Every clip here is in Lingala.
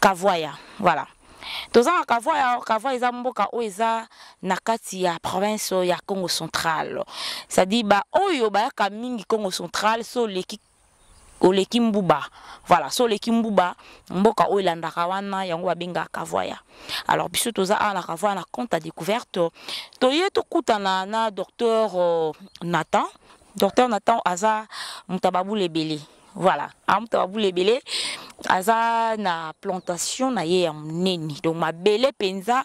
Kavoya, voilà. toza na kavoi kavoi eza mboka oyo eza na kati ya province ya congo central cestadire baoyo bayaka mingi congo central so oleki oleki mbuba voilà so oleki mbuba mboka oyo elandaka wana yango babengaka kavoya alors biso toza awa na kavoya na compte ya découverte toye tokutana na docteur euh, nathan docteur nathan aza moto ya babula ebele voilà amuta babula ebele aza na plantation na ye ya monene donc mabele mpenza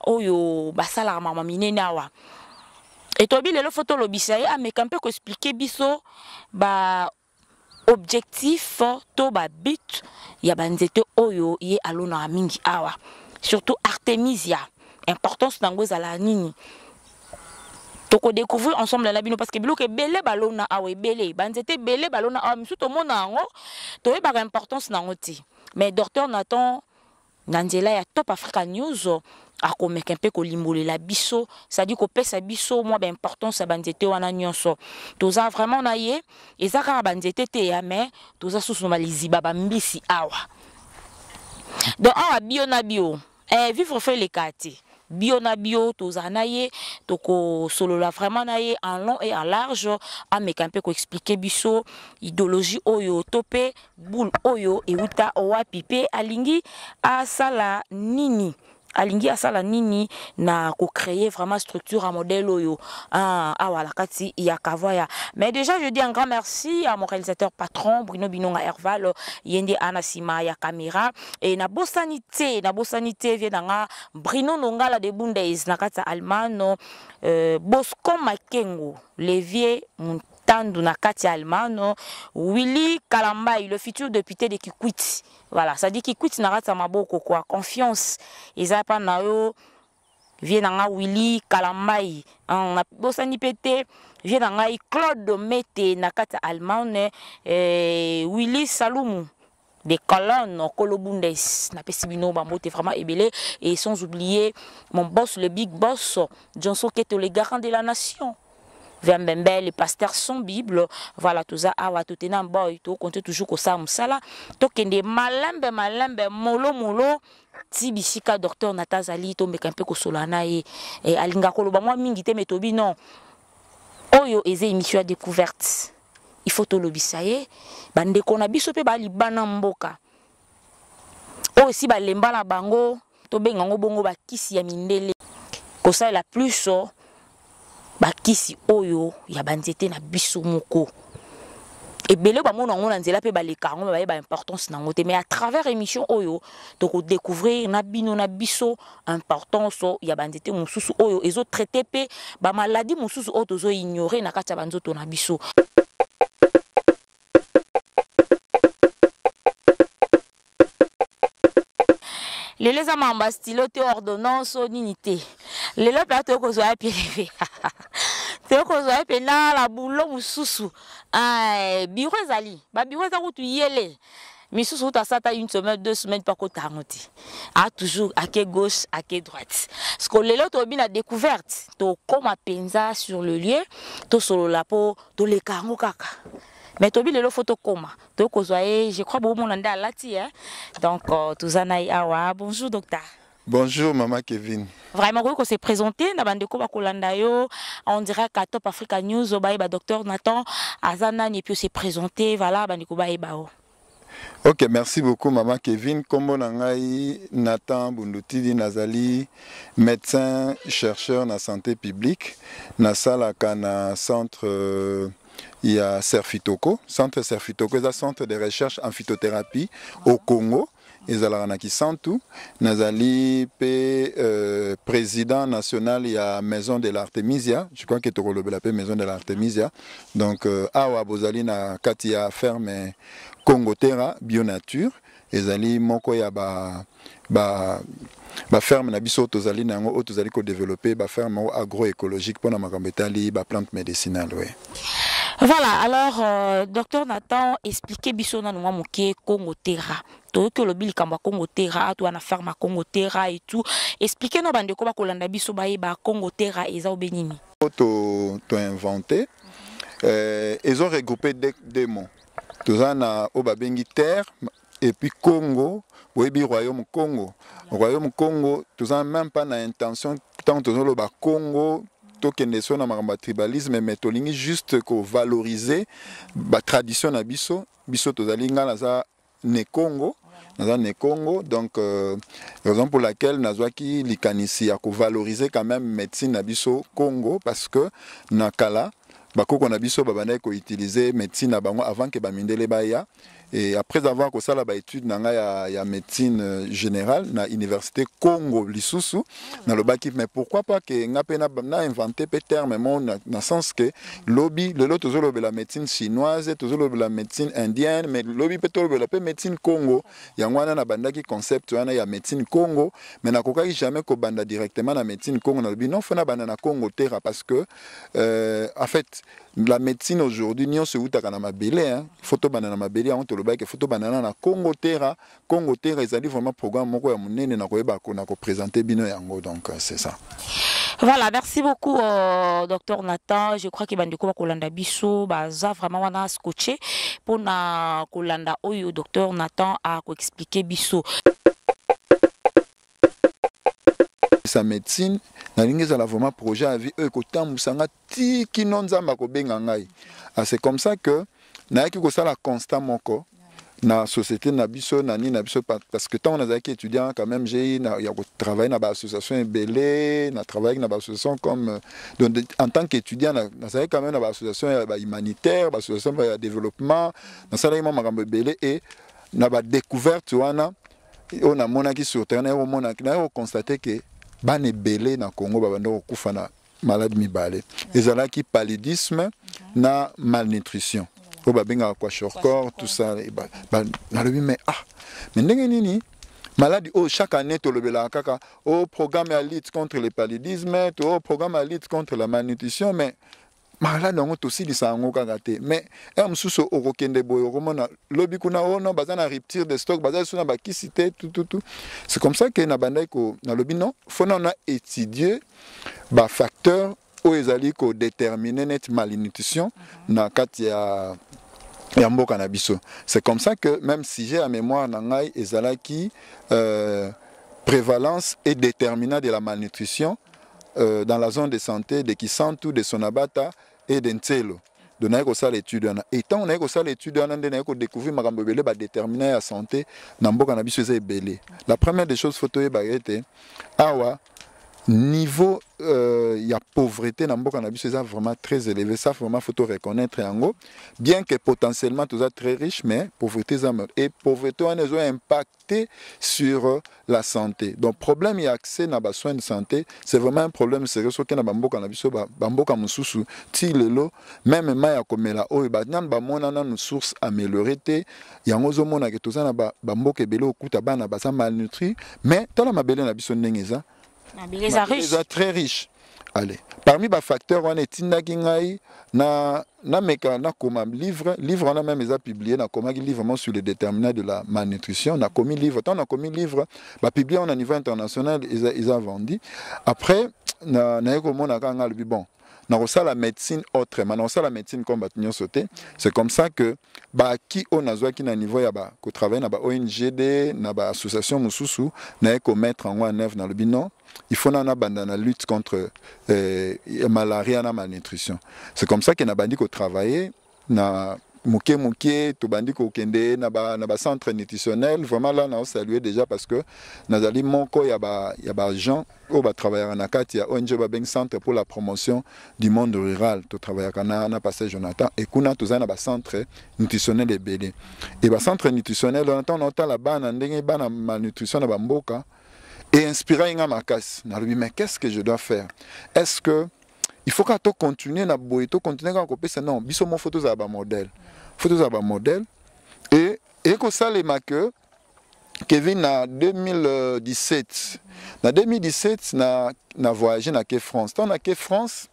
oyo basalaka mama minene awa etobi lelo fo tolobisa ye ameka mpe koexplike biso ba objectif to babut ya banzete oyo ye alonaka mingi awa surtout artemisia importance na yango ezalaka nini toko découvrir ensemble na bino parce que biloko ebele balona awa ebele banzete ebele balona awa misusu tomona yango toyebaka importance na yango te mais docteur nathan na nzela ya top africa news akomeka mpe kolimbolela biso sadi kopesa biso mwa baimportance ya banzete wana nyonso toza vraiment na ye eza kaka banzete te ya mais toza susu na baliziba bambisi awa donc awa bio na bio eh, vivre fo eleka te bio na bio tozala na ye tokosolola vraiment na ye en long et en large ameka mpe koexplike biso idéologie oyo to mpe boule oyo euta wapi mpe alingi asala nini alingi asala nini na kocreye vraiment structure ya modèle oyo ah, awa na kati ya kavaya mais déjà je dis un grand merci à mon réalisateur patron bruno binonga herval ye nde ana nsima ya caméra e na bosani te na bosani te vie na nga Bruno Nongala de Bundes na kati ya Almano euh, Bosco Makengo le vieux Tandu na kati Almano, Willy Kalambaï, le futur député de Kikwit. Voilà, ça dit Kikwit na kati maboko quoi, confiance. Ils pas na yo vie na nga willi kalambai hein, na bosani pe te vie na ngai claude mete na kati ya allemagne eh, willi salumu de colonne kolo bundes napesi bino bambote vraiment ebele et sans oublier mon boss le big boss johnson keto le garant de la nation Vembembe, les pasteurs sont Bible. Voilà, tout ça, awa, tout est boy, tout compte toujours comme ça, moussala. Tokende, malembe, malembe, molo, molo, ti bisika docteur na ta azali tomeka mpe kosolola na ye e, alinga koloba mwa mingi te me tobi non oyo eza émission ya découverte il faut tolobisa ye bandeko na biso mpe balibana mboka oyo esi balemba na bango tobenga yango bongo bakisi ya mindele kosalela plus bakisi oyo ya banzete na biso moko ebele bamona yango na nzela mpe baleka yango me baye baimportance na yango te mais à travers émission oyo tokodécouvrir na bino na biso importance ya banzete mosusu oyo ezotraite mpe bamaladi mosusu oyo tozoignore na kati ya banzoto na biso lelo eza mamba stylo te ordonnance o nini te lelo mpe atoki kozwa ya peleve toyei kozwa ye mpenza na bulo mosusu eh, biro ezali babiro eza kutu yele misusu kutu asata une semaine deux semaine mpo akota yango te a toujours ake gauche ake droite parceke lelo tobi na découverte tokóma mpenza sur le lieu tosolola mpo toleka yango kaka mais tobi lelo fo tokoma toyei kozwa ye je crois bomona nde alati e donc euh, toza na ye awa bonjour docteur Bonjour Maman Kevin. Vraiment, vous se présenter, na bande ko bakolanda yo, on dirait qu'à Top Africa News, au baye ba docteur Nathan, Azana, et puis se présenter, voilà, bande ko baye bao. Ok, merci beaucoup maman Kevin. Kombo na ngai Nathan Bundutidi nazali médecin chercheur na santé publique nasalaka na centre euh, ya Serfitoko. Centre Serfitoko eza centre de recherche en phytothérapie au Congo. ezalaka na Kisantu. Nazali pe euh, président national ya Maison de l'Artemisia. Je crois que tokolobela pe Maison de l'Artemisia. Donc euh, awa bozali na kati ya ferme Congo Terra Bio Nature ezali moko ya ba ba ba ferme na biso tozali na yango oyo tozali kodevelope ba ferme moko agroecologique mpo na makambo etali ba plante medicinale we voilà alors euh, docteur nathan explique biso nanu mwa moke congo terra toyoki olobi likambo ya congo terra to wana ferme ya congo terra et tout explique no bandeko bakolanda biso bayeba congo terra eza obe nini to, to invente euh, ezo regroupe deux, deux mots toza na oyo babengi terre et puis Congo boyebi royaume Congo royaume Congo toza même pas na intention ntango tozoloba Congo tokende so na makambo ya tribalisme mais tolingi juste kovaloriser batradition na biso biso tozali ngai naza ne Congo naza ne Congo donc euh, raison pour laquelle nazwaki likanisi ya kovaloriser quand même médecine na biso Congo parce que na kala bakoko na biso babandaki koutilize médecine na bango avant ke bamindele baya Et après avoir kosala ba études na nga ya, ya médecine euh, générale na université Congo lisusu ah, na lobaki mais pourquoi pas que nga pe na, na inventé pe terme mon na, na sens que lobby lelo tozolobela médecine chinoise tozolobela médecine indienne mais lobby pe tolobela pe médecine Congo yango wana na bandaki concept wana ya médecine Congo mais nakokaki jamais kobanda directement na médecine Congo na lobi non faut na banda na Congo terra parce que euh, en fait la médecine aujourd'hui nyonso eutaka na mabele hein. faut tobanda na mabele yango tolobaki faut tobanda na congo terra congo terra ezali vraiment programme moko ya monene na koyeba na kopresente bino yango donc euh, c'est ça voilà merci beaucoup euh, docteur nathan je crois que bandeko bakolanda biso baza vraiment wana scotché mpona kolanda oyo docteur nathan akoexplike biso sa médecine nalingi ezala vraiment projet ya vie oyo ekotambwisa nga ti kino nzambe akobenga ngai ah, c'est comme ça que nayaki kosala constat moko na société na biso na nini na biso parce que ntango nazalaki étudiant quand même j'ai na ya kotravaille na baassociation ebele na travaille na baassociation comme euh, donc en tant qu'étudiant nazalaki quand même na baassociation ya bahumanitaire baassociation ya développement nasalaki mwa makambo ebele e na badécouverte wana oyo namonaki sur terrain naye komonaki naye kokonstate ke bana ebele na congo babanda kokufa na maladi mibale ezalaki paludisme na malnutrition oyo babengaka kwashorcor tout ça nalobi mais ah mais ndenge nini maladi oyo chaque année tolobelaka kaka o oh, programme ya lutte contre le paludisme to oh, programme ya lutte contre la malnutrition mais maladi yango tosilisa yango kaka te mais ere mosusu okokende boye okomona lobi kuna ono oh baza na rupture de stock baza lisusu na bakisi te tututu c'est comme ça ke nabandaki ko nalobi non fona na étudier ba facteurs oyo ezali ko déterminer net malnutrition mhm. na kati ya ya mboka na biso c'est comme ça que même sujet ya mémoire na ngai ezalaki euh, prévalence et déterminant de la malnutrition euh, dans la zone de santé de Kisantu de Sonabata Eden Nselo donc naye kosala étude wana et ntango naye kosala étude wana nde naye kodécouvrir makambo ebele badéterminant ya santé na mboka na biso eza ebele la première des choses fo toyebaka ete awa niveau euh, ya pauvreté na mboka na biso eza vraiment très élevé ça vraiment faut reconnaître yango bien que potentiellement toza très riche mais pauvreté eza et pauvreté wana ezo impact impacter sur euh, la santé. Donc problème et accès na ba soins de santé, c'est vraiment un problème sérieux soki na bamboka na biso ba bamboka mususu ti lelo même mai ya komela oyo ba nanu ba mona nanu source améliorée te yango zo mona que toza na ba bamboka ebele okuta bana baza malnutri mais tala mabele na biso ndenge eza mabele eza riche eza très riche allez parmi ba facteurs wana etindaki ngai na na meka na koma livre livre wana même eza publié na komaki livre mon sur le déterminant de la malnutrition na komi livre tant na komi livre ba publié on a niveau international eza eza vendu après na na yeko mona kanga lobi bon nakosala médecine autrement nakosala médecine comme bato nyonso te c'est comme ça que baki oyo nazwaki na niveau ya ba kotravaille na ba ongd na ba association mosusu naye komettre yango en œuvre nalobi non il faut nana banda na lutte contre euh, malaria na malnutrition c'est comme ça que nabandi kotravaille na moke moke tobandi kokende na ba, na ba centre nutritionnel vraiment là na saluer déjà parce que nazali moko ya ba ya ba gens oyo batravaillaka na kati ya ong babengi centre pour la promotion du monde rural totravaillaka na, na passage jonathan e kuna tozali na bacentre nutritionnel ebele e bacentre nutritionnel wana ntango naotala bana ndenge bana malnutrition na bamboka e inspiraki nga makasi nalobi mais qu'est ce que je dois faire est ce que il faut kaka to continuer na boye to continuer kaka kopesa non biso moko fo tozala bamodele fo tozala bamodele e ekosalema ke kevin na 2017 na 2017 na, na voyage na ke france ntango na ke france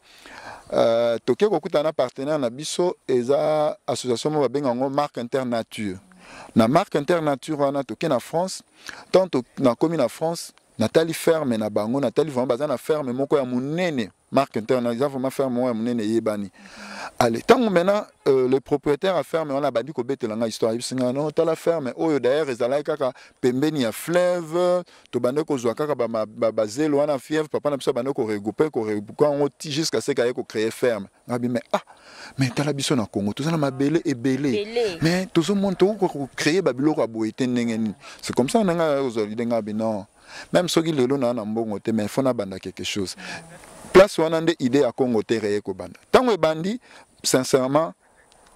uh, toke kokutana na partenaire na biso eza association moko babenga yango marque internature na marque internature wana toke na france ntango nakomi na france natali ferme na bango natali vraiment baza na ferme moko ya monene marque interne eza vraiment ferme moko ya monene eyebani ale ntango maintenant euh, le propriétaire ya ferme wana abandi kobetela ngai histoire ayebisi ngai no tala ferme oyo d'ailleurs ezalaki kaka pembeni ya fleuve tobandaki kozwa kaka bazelo wana fièvre papa na biso abandaki koregroupe koregroupe yango ti jusqu'à ce kaye kocreye ferme ngabi mais ah mais tala biso na Congo toza na mabele ebele mais tozo mona to ko créer ba biloko ya boye te ndenge nini c'est comme ça nanga ozo lide ngabi non même soki lelo na na mbongo te mais faut na banda quelque chose place wana nde idée ya Congo te reye ko banda tango ebandi sincèrement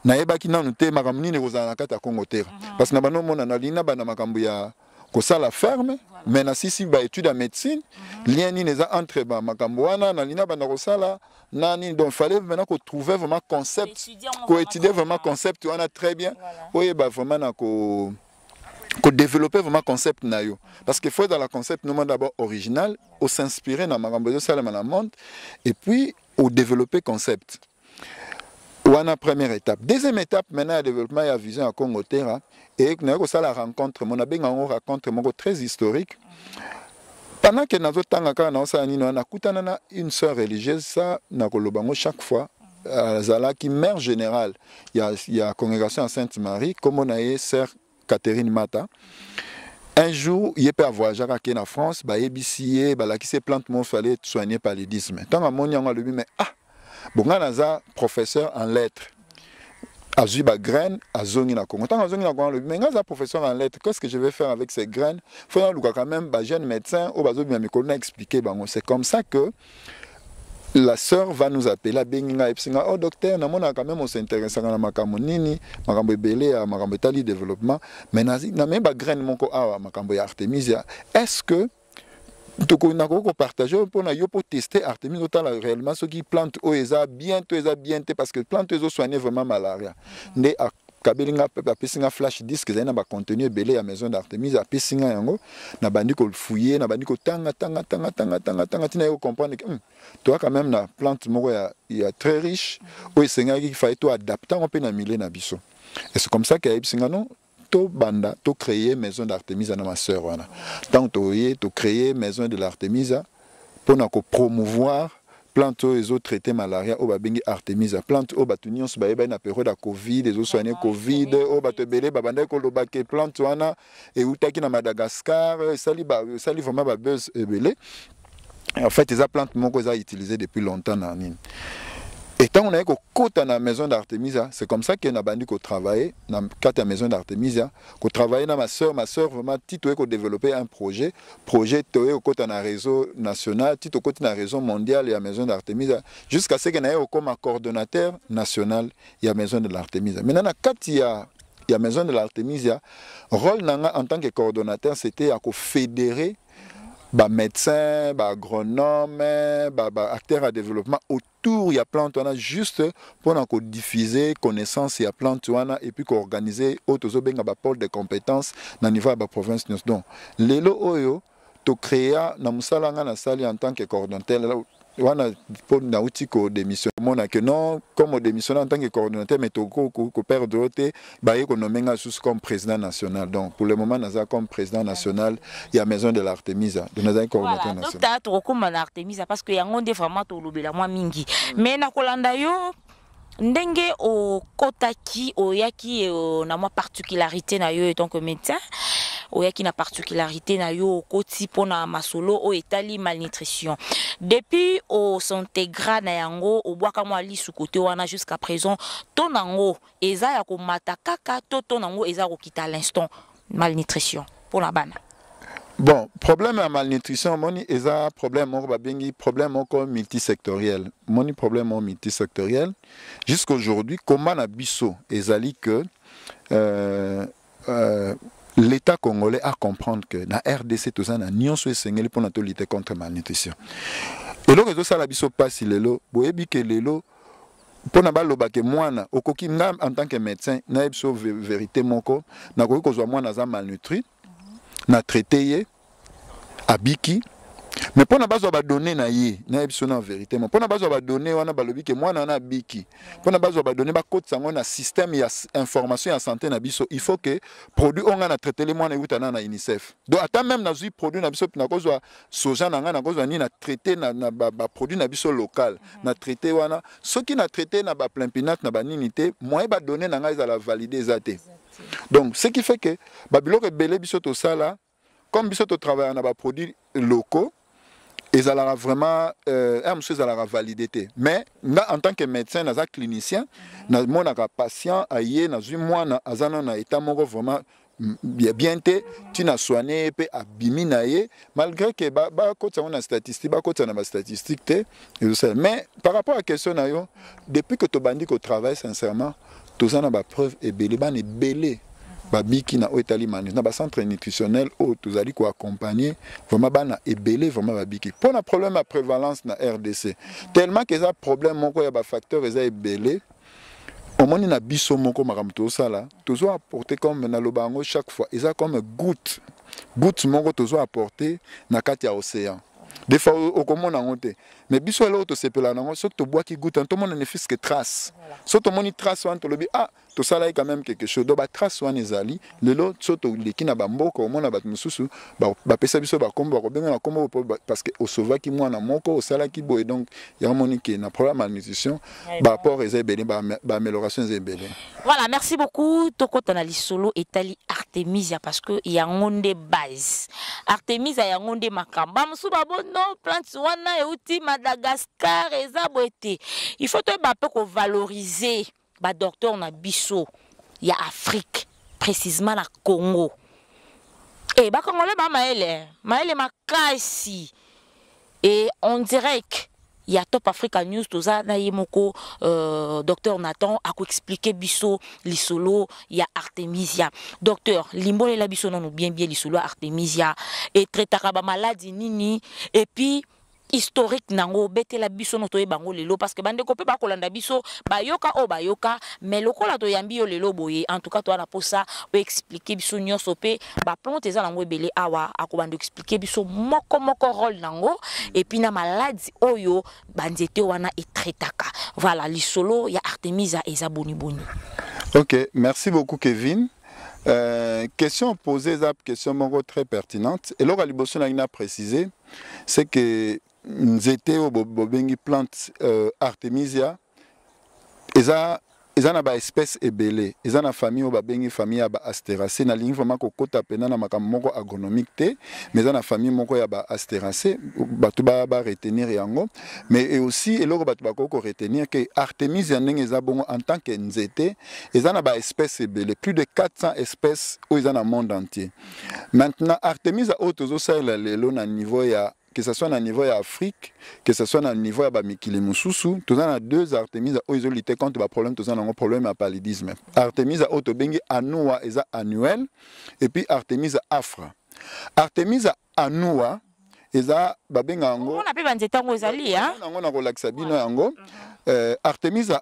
nayebaki nanu te makambo nini ekozala na kati ya congo terre mhm. parce na bano omona nalingi na banda makambo ya kosala ferme voilà. mais nasisi baétude ya médecine mm -hmm. lien nini eza entre bamakambo wana nalingi abanda kosala na nini donc fallait maintenant kotrouve vraiment concept koétudie vraiment concept wana très bien voilà. oyeba vraiment na ko kodévelopper vraiment concept na yo parce que faut ezala concept nomoi d'abord original osinspire na makambo ezosalema na monde et puis odévelopper concept wana première étape deuxième étape maintenant ya développement ya vision ya congo terra e naye kosala rencontre mo nabenga yango rencontre moko très historique pendant ke nazotanga kaka naosala nini wana nakutana na une sœur religieuse sa nakoloba yango chaque fois azalaki mère générale ya, ya congrégation ya sainte marie nkombo na ye sœur Catherine Mata un jour ye mpe avoyageaka ake na france bayebisi ye balakisi ye plante moso ale soigne paludisme ntango amoni yango alobi me ah bongai naza professeur en lettre azwi bagraine azongi na congo ntango azongi na congo alobi me ngai aza professeur en lettre qu'est ce que je vais faire avec ces graines fo nalukaka même bajeune médecin oyo bazobima mikolo na expliquer bango c'est comme ça que la sœur va nous appeler abengi ngai ayebisi ngai oh docteur namonaka quand même osinteressaka na makambo nini makambo ebele ya makambo etali développement mais namemi bagraine moko awa makambo ya artemisia est ce que nakoki kopartage oyo mpona yo mpo teste artemis otala réellement soki plante oyo eza bien to eza bien te parce que plante oyo ezosoigne vraiment malaria nde kabeli nga pepe apesi nga flash disque ezali na bacontenu ebele ya maison d'artemise apesi nga yango nabandi kofouye nabandi kotanga tanga tanga tanga tanga tanga ntina ye kocomprendre ke hmm, toa quand même na plante moko ya, ya très riche oyo esengaki faye to adapte yango mpe na milieu na biso et c'est comme ça ke ayebisi nga non tobanda tocreye maison d'artemisa na maseur wana ntango toye tocreye maison de l'artemisa mpo na ko promouvoir plante oyo ezo traite malaria oyo babengi artemisia plante oyo bato nyonso bayebani na periode ya covid ezosoigne covid oyo bato ebele babandaki koloba ke plante wana eutaki na madagascar esali esali vraiment babuse ebele en fait eza plante moko eza utilise depuis longtemps na nini Et tant on a kota na maison d'Artemisia, c'est comme ça qu'on a bandi ko travailler na kata maison d'Artemisia, ko travailler na ma sœur, ma sœur vraiment tito ko développer un projet projet toye kokota na réseau national ti tokoti na réseau mondial ya maison d'artemisa jusqu'à ce que naye okoma coordonnateur national ya maison de l'artemisa maintenant na kati ya ya maison de l'artemisia rôle na nga en tant que coordonnateur c'était ya kofédérer bamédecin baagronome baacteur ba ya développement tour ya plante wana juste pona ko diffuser connaissance ya plante wana et puis ko organiser oyo tozo benga ba pôle de compétences na niveau ya ba provinces nyonso donc lelo oyo to créa na musala nga na sali en tant que coordonnateur wana mpo nauti kodémission omona que non comme odémissionne en tant que coordonnateur mais tokoperdre yo te baye ko nommer nga sous comme président national donc pour le moment naza comme président national ya maison de l'artemisa donc naza coordinateur voilà, national docteur tokokoma na artemisa parce que yango nde vraiment tolobela mwa mingi mm. mais nakolanda yo ndenge okotaki oyaki euh, na mwa particularité na yo etant que médecin oyaki na particularité na yo okoti mpo na masolo oyo etali malnutrition depuis osintegra na yango obwaka mwa lisu kote wana jusqu'à présent to na yango eza ya komata kaka to to nango eza kokita à l'instant malnutrition pour la bana bon problème ya malnutrition moni eza problème moko babengi problème moko multisectoriel moni problème moko multisectoriel jusqu'aujourd'hui combat na biso ezali que euh, Euh, l'État congolais a comprendre que na RDC tout ça na nyonso esengeli pona to lutter contre malnutrition. Eloko ezo sala biso pasi lelo, boyebi ke lelo pona baloba ke mwana okoki nga en tant que médecin na biso vérité moko, na koki kozwa mwana za malnutri, na traiter ye, abiki mais mpona bazwa badonne na ye nayebi so na verité ma mpona bazwa badonne wana balobi ke mwana wana abiki mpona bazwa badonne bakotisa yango na système ya information ya santé na biso il faut ke produit oyo ngai na traitele mwana euta na na unicef donc ata meme nazwi produit na biso nakozwa soja na ngai nakozwa nini na traite na, na baproduit ba na biso local mhm. na traite wana soki na traite na baplimpinate na banini te moyen badonne na ngai ezala valide eza te donc ce qui fait ke babiloko ebele biso tosala comme biso totravaillaka na baproduit locaux ezalaka vraiment euh, un mosusu ezalaka valide te mais nga en tant que médecin naza clinicien namonaka patient aye nazwi mwana aza nano na état moko vraiment ya bien te ntina soigne ye mpe abimi na ye malgré ke bakotisa yango na statistique bakotisa na bastatistique te ezosala mais par rapport ya question na yo depuis que tobandi kotravaille sincèrement toza na ba preuve ebele bana ebele babiki na oyo etali manus na bacentre nutritionnel oyo tozali koaccompagne vraiment bana ebele vraiment babiki mpo na problème ya prévalence na rdc tellement ke eza problème moko ya bafacteur eza ebele omoni na biso moko makambo tozosala tozo apporte comme naloba yango chaque fois eza comme goutte goutte moko tozo apporte na kati ya océan des fois okomona yango te mais biso eloko tosepela nango soki tobwaki guta tomona ne fiske trace so tomoni trace wana tolobi ah tosalaki quand même quelque chose donc batrace wana ezali lelo so toleki na bamboka omona bato mosusu bapesa biso bakombo bakobenga na kombo parce que osauvaki mwana moko osalaki boye donc yango moni ke na problème ya malnutrition ba apport eza ebele ba amélioration eza ebele voilà merci beaucoup tokota na lisolo etali artemisia parce que yango nde base artemisia yango nde makambo bamosusu babono plante wana euti madagascar eza boye te il faut toyeba mpe kovaloriser badocteur na biso ya afrique précisement na congo e eh, bakongole bamayele mayele makasi et en direct ya Top Africa News toza na ye moko euh, docteur Nathan akoexplike biso lisolo ya Artemisia docteur limbolela biso nanu bien bien lisolo ya Artemisia etretaka bamaladi nini epuis historique nango betela biso no toyeba yango lelo parce que bandeko mpe bakolanda biso bayoka oyo bayoka mais lokola toyambi yo lelo boye en tout cas toza na mposa oexplike biso nyonso mpe ba plante eza nango ebele awa akobanda expliquer biso moko moko role nango et puis na maladi oyo ba nzete wana etraitaka voilà lisolo ya Artemisia eza boni boni OK merci beaucoup Kevin Euh, question posée eza question moko très pertinente eloko ya liboso nangi na préciser c'est que nzete oyo bobengi plante euh, artemisia eza eza na baespèce ebele eza na famille oyo babengi famille ya baasterace nalingi vraiment kokota mpena na makambo moko agronomique te mais eza na famille moko ya baasterace bato baretenir ba yango mais e aussi eloko bato bakoki koretenir ke artemise ya ndenge eza bongo en tant que nzete eza na baespèce ebele plus de 400 espèces oyo eza na monde entier maintenant artemisa oyo tozosalela lelo na niveau ya que ça soit na niveau ya Afrique, que ça soit na niveau ya ba mikili mususu, toza na deux Artemisa oyo ezo lutter contre ba problème toza nango problème ya paludisme. Artemisa oyo tobengi Anua eza annuel et puis Artemisa afra. Artemisa anua eza babenga yango. Mona pe ba nzete yango ezali ya. Yango na kolakisa bino yango. Euh, Artemisa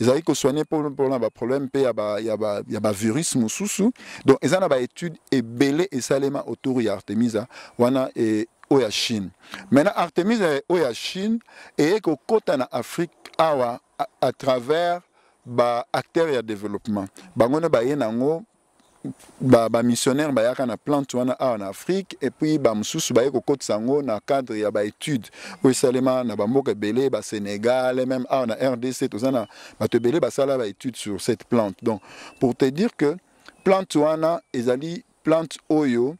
ezalaki ko soigner mpona baproblème mpe ya ba, ya ba, ya ba virus mosusu donc eza na baétude ebele esalema autour ya artemisa wana e, oyo ya chine maintenant artemisa oyo ya chine eye kokota na afrique awa à, à travers baacteur ya développement bango nde baye na yango ba, ba missionnaire bayaka na plante wana awa na afrique et puis ba mususu baye kokotisa yango na cadre ya baétude oyo esalema na bamboka ebele basénégal et même awa na rdc toza na bato ebele basala baétude sur cette plante donc pour te dire que plante wana ezali plante oyo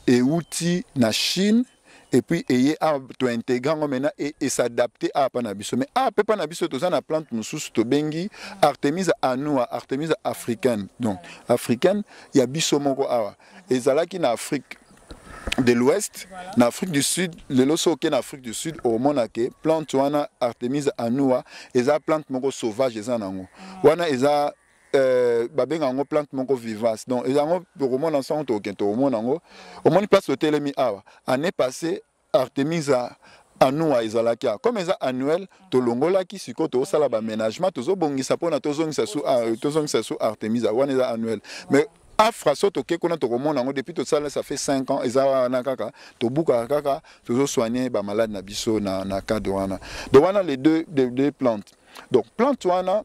euti na chine et puis eye awa tointegre yango mena e, e s'adapte awa mpa na biso mais awa mpe mpa na biso toza na plante mosusu tobengi artemisa anua artemisa africaine donc africaine ya biso moko awa ezalaki na afrique de l'ouest voilà. na afrique du sud lelo so oke na afrique du sud omona ke plante wana artemisa anua eza plante moko sauvage eza na yango ah. wana eza Euh, babenga yango plante moko vivace donc yango tokomona nsango tokokende tokomona yango omoni place otelemi awa année passé artemisa anua ezalaki a comme eza annuel tolongolaki sikoyo tozosala baménagement tozobongisa mpona tozongisa su ah, tozongisa su artemisa wana eza annuel mais afra so toke kuna tokomona yango depuis tosala ça fait 5 ans eza wana kaka tobukaka kaka tozosoigne bamalade na biso na, na cadre wana donc wana les deux, les deux plantes donc plante wana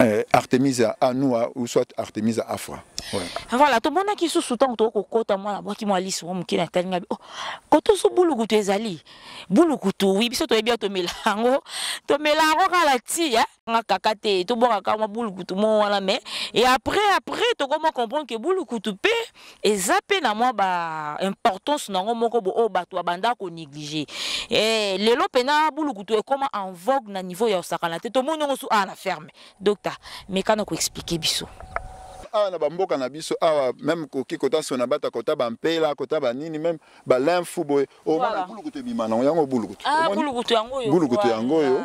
eh, Artemisia anua ou soit Artemisia afra ouais. voilà tomonaki susu ntango tokoki kokota mwana bwaki mwa liso mwa moke na talinga oh, koto so bulukutu ezali bulukutu wi biso toyebi ya tomela yango tomela yango kaka na ti eh? nga kaka te tobwaka kaka mwa bulukutu mo wana mais et après après tokoma comprendre ke bulukutu mpe eza pe na mwa ba importance na yango moko bo oyo bato babanda konéglige eh, lelo mpena bulukutu ekoma en vogue na niveau ya osakana te tomoni yango su awa na ferme docta mekana koexplike biso awa na bamboka na biso awa meme koki kota sona bata kota bampela kota banini meme balinfu boye omona bulukutu ebima nango yango bulukutu ah, bulukutu yango oyo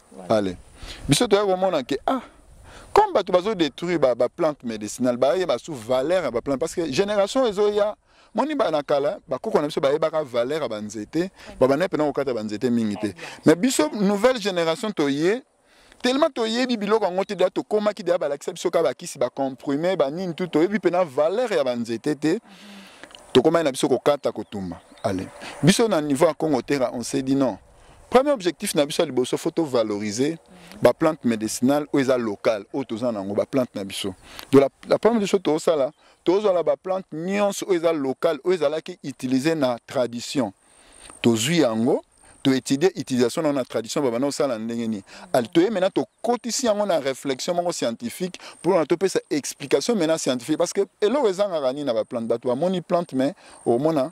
pale biso toya komona ke ah comme bato bazo détruire ba, ba plante médicinale bayeba su valeur ya ba plante parce que génération ezoya moni bana na kala bakoko na biso bayebaka valeur ya banzete babandaki mpena kokata banzete mingi te mais biso nouvelle génération toye tellement toyebi biloko yango te deya tokomaki deya balakisa biso kaka bakisi bacomprime banini tu toyebi mpena valeur ya banzete te tokomaki na biso kokata kotumba ale biso na niveau ya congo tera on se dit non premier objectif na biso ya liboso fo tovaloriser baplante médicinale oyo eza locale oyo toza na yango baplante na biso donc la, la première biso tozosala tozwala baplante nyonso oyo eza locale oyo ezalaki utilise na tradition tozwi yango toétudie utilisation na yango na tradition babanda kosala ndenge nini toye maintenant tokotisi yango na réflexion moko scientifique mpona topesa explication maintenant scientifique parce que eloko ezangaka nini na baplante bato bamoni plante mais omona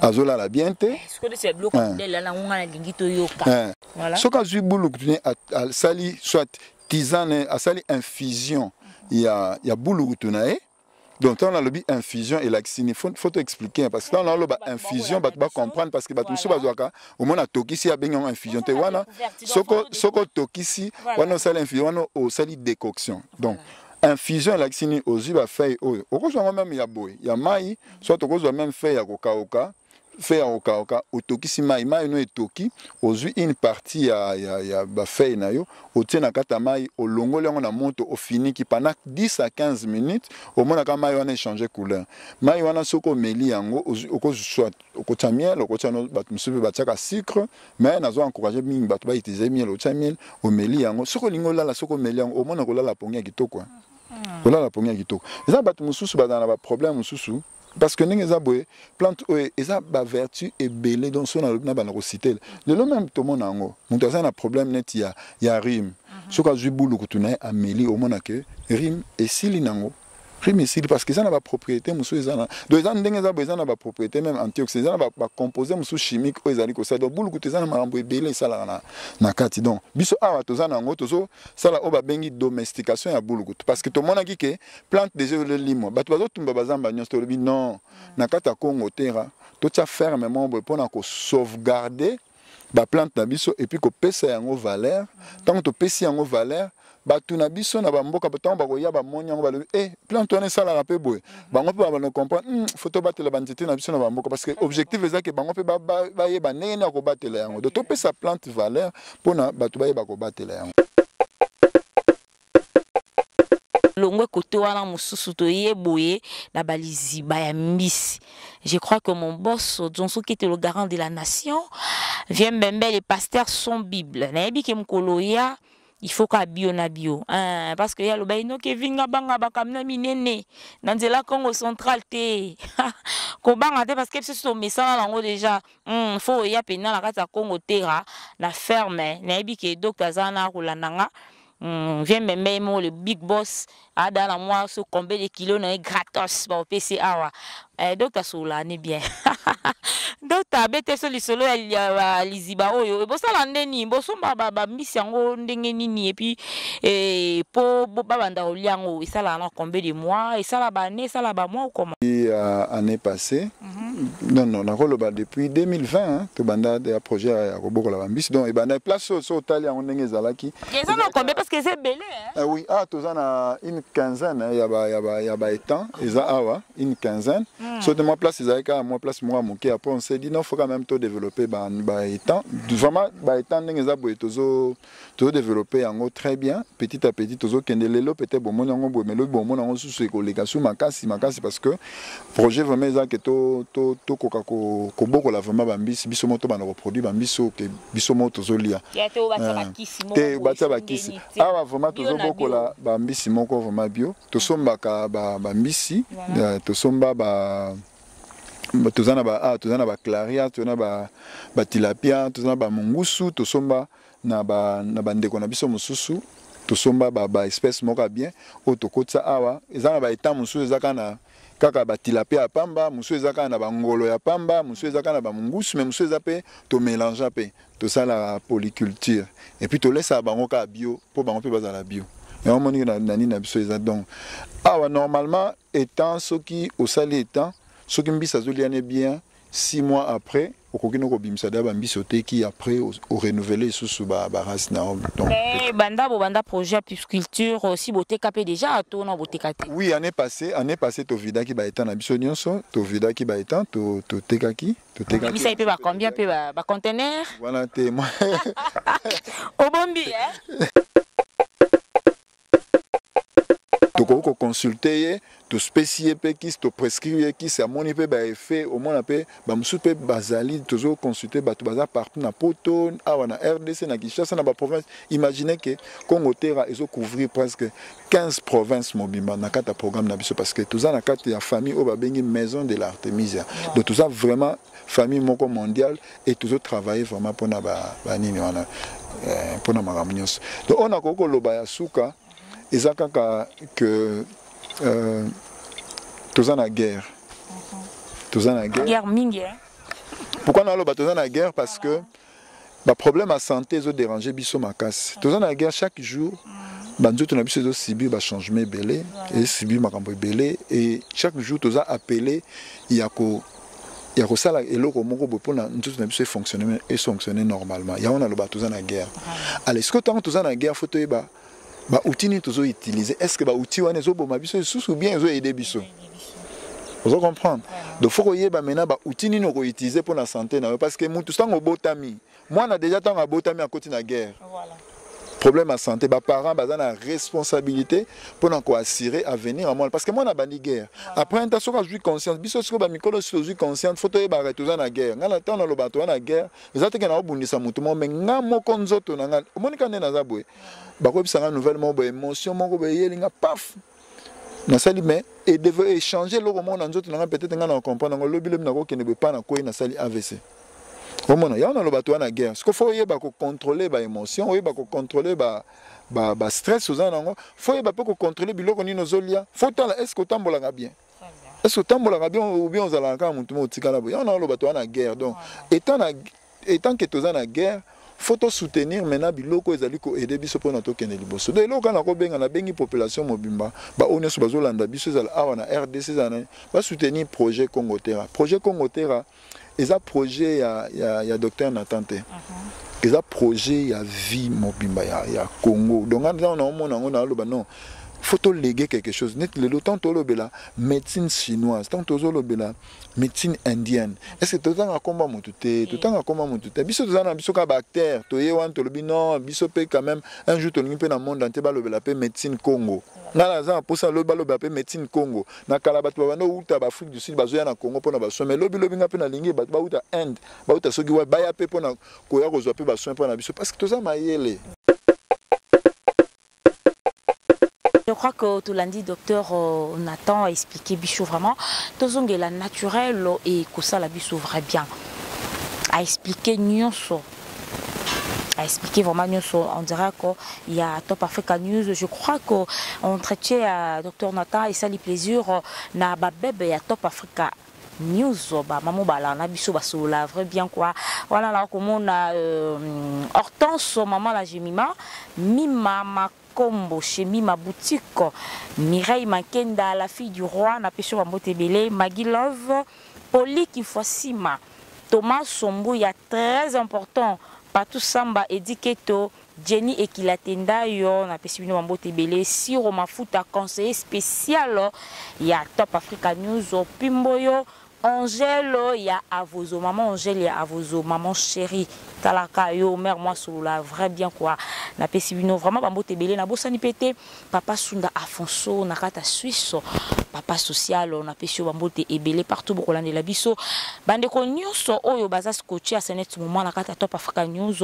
azolala bien te soki azwi bulukutu ne asali soit tisane asali infusion ya, ya bulukutu na ye donc ntango nalobi infusion elakisi ni faut to expliquer parce que ntango naloba infusion bato bacomprendre parce que bato mosusu bazwaka omona atokisi abengi yango infusion te wana soki otokisi wana osali infusion wana osali décoction donc infusion elakisi ni ozwi bafeuille oyo okozwa yango meme ya boye ya mai soit tokozwa meme feuille ya kokauka feuille ya kokauka otokisi mai mai no etoki ozwi une partie ya, ya, ya bafeuille na yo otie na kati ya mai olongoli yango na moto ofiniki pendant 10 à 15 minutes omonaka mai wana echange couleur mai wana soki omeli yango okozwa okotya miel okotya no bato mosusu mpe batiaka sucre mai nazo encourage mingi bato bautilize miel otya miel omeli yango soki olingi olala soki omeli yango omona kolala pongi ya kitoko hmm. olala na pongi ya kitoko eza bato mosusu bazala na baproblème mosusu parce que ndenge eza boye plante oyo eza bavertu ebele donc so nalobi na banda kositele lelo meme tomona yango moto aza na problème neti ya, ya rime mhm. soki azwi bulu kutu na ye ameli omona ke rime esili nango rime esili parce que eza na bapropriété mosusu eza na donc eza ndenge eza boye eza na bapropriété meme antioxida eza na bacomposé mosusu chimique oyo ezali kosala donc bulu kutu eza na makambo ebele esalaka na, na kati donc biso awa toza na yango tozo sala oyo babengi domestication ya bulukutu parce que tomonaki ke plante déjà ezolimwa bato bazotumba bazamba nyonso tolobi non na kati ya congo tera totya ferme moko boye mpo na kosauvegarde baplante na biso epuis kopesa yango valeur ntango topesi yango valeur bato na biso na bamboka ntango bakoya bamoni yango balobi e eh, plante wana esalaka mpe boye bango mpe babanda comprendre hmm, fo tobatela banzete na biso na bamboka parce que objectif ezaki bango mpe bayeba ndenge nini ya kobatela yango do topesa plante valeur mpo na bato bayeba kobatela yango. longwe kote wana mosusu toye boye na baliziba ya mbisi je crois que mon boss John soki ete le garant de la nation vient mbembe les pasteurs sont bible nayebi ke mokolo ya il faut ka bio na bio hein, parce que ya loba inoki evinga banga bakamina minene na nzela congo central te kobanga te parce que biso tomesana nango déjà Hum, faut oya pena na kati ya Congo tera na ferme. Nayebi ke docteur aza na kolanda nga. Hum, viens mbembe ye moko le big boss ada na mwa so combien de kilos na ye gratos ba opesi awa. Eh, docteur sola ne bien. docteur abete so lisolo ya, ya, ya liziba oyo ebosala nde nini bosomba ba, ba mbisi yango ndenge nini epi eh, po bo- babanda kolia yango esalaka na combien de mois esala ba année esala ba mois ou comment Et, euh, année passée Mhm. non non nakoloba depuis 2020 tobanda ya projet ya kobokola bambisi donc ebanda place oyo so otali yango ndenge ezalaki eza na combien parce que eza ebele eh oui awa ah, toza na une quinzaine eh, ya baétang eza awa une quinzaine hmm. so te mwa place ezalaki kaka mwa place moko ya moke après on s'est dit non faut quand même todéveloppe baétang vraiment baétang ndenge eza boye tozo tozo developpe yango très bien petit à petit tozokende lelo peut-être bomoni yango boye mais lobi bomona yango susu ekoleka su makasi makasi parce que projet vraiment eza ke tokoka kobokola vraiment bambisi biso moko tobanda koproduit bambisi oyo ke biso moko tozolia te batya bakisi awa vraiment tozobokola bambisi moko vraiment bio tosombaka bambisi tosomba ba toza na ba ah, toza na ba claria toza na ba ba tilapia toza na ba mungusu tosomba na ba na ba ndeko na biso mususu tosomba ba ba espèce moko bien oyo tokotisa awa eza na ba état mususu eza kaka na kaka ba tilapia ya pamba mususu eza kaka na ba ngolo ya pamba mususu eza kaka na ba mungusu mais mususu eza pe to mélange pe tosala polyculture et puis tolesa bango kaka bio po bango pe bazala bio yango omoni na nini na biso eza donc awa normalement Etant soki osali etant soki mbisi azolia ne bien 6 mois après okoki no kobimisa da bambisi oteki après orenouvele lisusu barace na yo eh, banda bobanda projet ya pisculture euh, si boteka mpe déjà to na boteka te oui année passé année passé tovidaki baetan na biso nyonso tovidaki baetan totekaki totekakibisaki mpe bacombien mpe bacontenaire wana te obombi eh? tokoki koconsulte ye tospesi ye mpe kisi toprescrire ye kisi amoni mpe baeffet omona mpe bamosusu mpe bazali tozoconsulte bato baza partout na poto awa na rdc na kinshasa na baprovince imagine ke congo terra ezocouvrir presque 15 province mobimba na kati ya programme na biso parce que toza na kati ya famille oyo babengi maison de l'artemisia donc toza vraiment famille moko mondiale et tozo travailler vraiment pona ba ba nini wana eh, pona makambo nyonso donc oyo nakoki koloba ya suka eza kaka que euh, toza na guerre toza na guerre guerre mingi hein? pourquoi naloba toza na guerre parce que ba problème ya santé ezo déranger biso makasi toza na guerre chaque jour banzoto na biso ezosibir bachangement ebele esibir makambo ebele et chaque jour toza appelé ya ko ya kosala eloko moko boye mpona nzoto na biso efonctionne efonctionne normalement yango naloba toza na guerre ala sikoyo ntango toza na guerre fo toyeba baoutil nini tozo utiliser est ce que baoutil wana ezoboma biso lisusu bien ezo aide biso ozo comprendre donc fo koyeba maintenant baoutil nini okoutilize mpo na sante na yo parce que mutu ntango obotami mwana deja ntango abotami akoti na guerre voilà. problème ya santé baparent baza na responsabilité mpona koassure avenir ya mwana parce que mwana abandi guerre après nta soki azwi conscience biso sikoyo bamikolo si tozwi conscience fo toyebaka toza na guerre ngai na ntango nalobaka toza na guerre eza teke naobundisa motu moko me ngai moko nzoto na ngai omoni ka nde naza boye bakoyebisa ngai nouvelle moko boye émotion moko boye eyeli ngai paf nasali mais echange eloko moko na nzoto na ngai peut-être ngai na comprendre yango lobi lobi nakokende boye mpa nakwei nasali avc omona yango naloba toa na guerre siko fo oyeba kocontrole baémotion oyeba kocontrole ba, ba, ba stress oza na yango fo oyeba mpe kocontrole biloko nini ozolia fo otala estce otambolaka bien est ce otambolaka bien ou bien ozalaka kaka motu moko otikala boye yango naoloba toza na guerre donc etant na etant ke toza na guerre faut tosoutenir maintenant biloko ezali koaide biso mpona tokende liboso donc eloko kaka nakobenga nabengi population mobimba baoyo nyonso bazolanda biso ezala awa na rdc ezala na basoutenir projet congo terra projet congo terra eza projet ya, ya, ya docteur nathan te uh-huh. eza projet ya vie mobimba ya, ya congo donc ntango naomona yango naoloba non faut toléguer quelque chose neti lelo ntango tolobela médecine chinoise ntango tozolobela médecine indienne est ce que totanga komba motu te totanga komba motu te biso toza na biso kaka baacteur toye wana tolobi non biso mpe quand même un jour tolingi mpe na monde ante balobela mpe médecine congo ngai naza na mposa lobi balobela mpe médecine congo na kala bato babanda kouta baafrike du sud bazoya na congo mpo na basoin mai lobilobi ngai mpe nalingi bato bauta inde bauta soki wapi baya mpe mpo na koya kozwa mpe basoin mpo na biso parce que toza mayele Je crois que tout lundi, docteur euh, Nathan a expliqué Bichou vraiment. Tout le naturel et que ça la Bichou vrai bien. A expliqué Nyonso. a expliqué vraiment nyonso on dirait que ya top africa news je crois que entretien ya docteur nathan esali plaisir na babebe ya top africa news bamama obala na biso basolola vrai bien kua wana na komona euh, hortense mama la gemima mima kombo shemima boutique mireille mankenda la fille du roi na peso bambote ebele magi love poli kinfwasima thomas sombo ya très important patou samba ediketo Jenny Ekilatendayo na pesi bino mambote ebele Siro Mafuta conseiller spécial ya Top Africa News Pimboyo Angelo ya Avozo, maman Angèle ya Avozo, maman chérie, talaka yo, mère moi solola, vrai bien quoi. Na pesi bino vraiment ba mbote belé na bosani pété, papa Sunda Afonso na kata Suisse, papa social na pesi yo ba mbote ebelé partout bokolande la biso. Bande ko nyonso oyo baza scotché à senet moment na kata Top Africa News,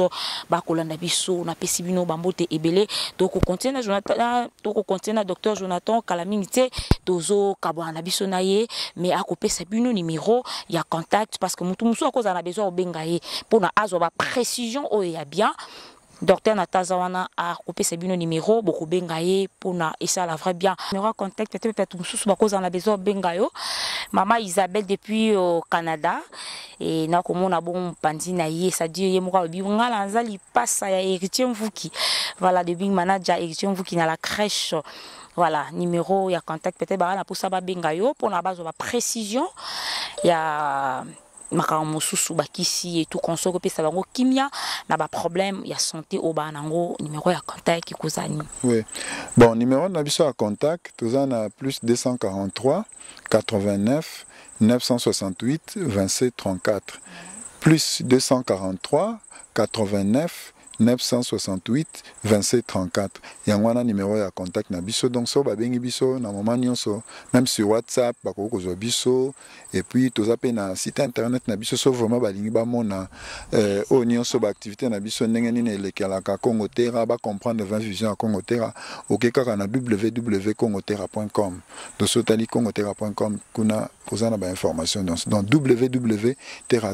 ba kolanda biso na pesi bino ba mbote ebelé. Donc ko continuer na journal toko continuer na docteur Jonathan kala mingi te tozo kabwana na biso na ye mais akopesa bino numéro ya contact parce que mutu mususu akozala na besoin obenga ye mpona azwa ba précision oyo ya bien docteur na taza wana akopesa bino numéro bokobenga ye mpona esala vrai bien numéro ya contact te bato mosusu bakozala na besoin obenga yo mama isabelle depuis au euh, canada e, na komona bongo mopanzi na ye sadi ye moko alobi nga naza lipasa ya héritier mvuki voilà de bing manager héritier mvuki na la crèche voilà numéro ya contact peut-être baka na posa babenga yo mpona bazwa ba précision ya makambo mosusu bakisi etu konso kopesa bango kimia na baproblème ya santé oyo baa nango numero ya contact ekozani oui. bon numero na biso ya contact toza na plus 243 89 968 27 34 plus 243 89 968 27 34 yango wana numero ya contact na biso donc so babengi biso na moment nyonso même sur whatsapp bakoki kozwa biso et puis toza mpe na site internet na biso so vraiment balingi bamona euh, oyo oh, nyonso baactivité na biso ndenge nini elekelaka congo terra bacomprendre 20 vision ya congo terra oke kaka na www congo terra com donc soki otali congo terra point com kuna oza na bainformation donc dans www terra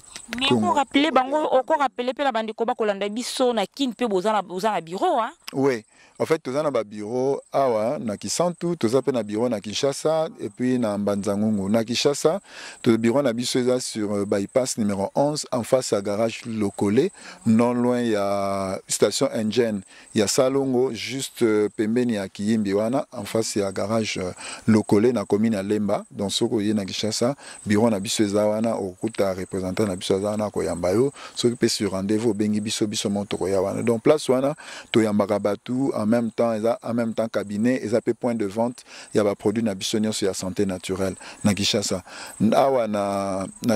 okorappele bango okorappele mpe na bandeko bakolanda biso na kin mpe boza na bureau a oui en fait toza na babureau awa na kisantu toza mpe na bureau na kinshasa epuis na mbanzangungu na kinshasa bureau na biso eza sur euh, bypass numéro 11 en face ya garage lokole non loin ya station engine ya Salongo juste euh, pembeni ya Kiyimbi wana en face ya garage euh, Lokole na commune ya Lemba donc soko ye na Kinshasa bureau na biso eza wana okuta représentant na biso aza wana koyamba yo soki pe sur rendez-vous bengi biso biso mo toko ya wana donc place wana toyambaka batu en même temps eza en même temps cabinet eza pe point de vente ya ba produits na biso nyonso ya santé naturelle na Kinshasa awa na, na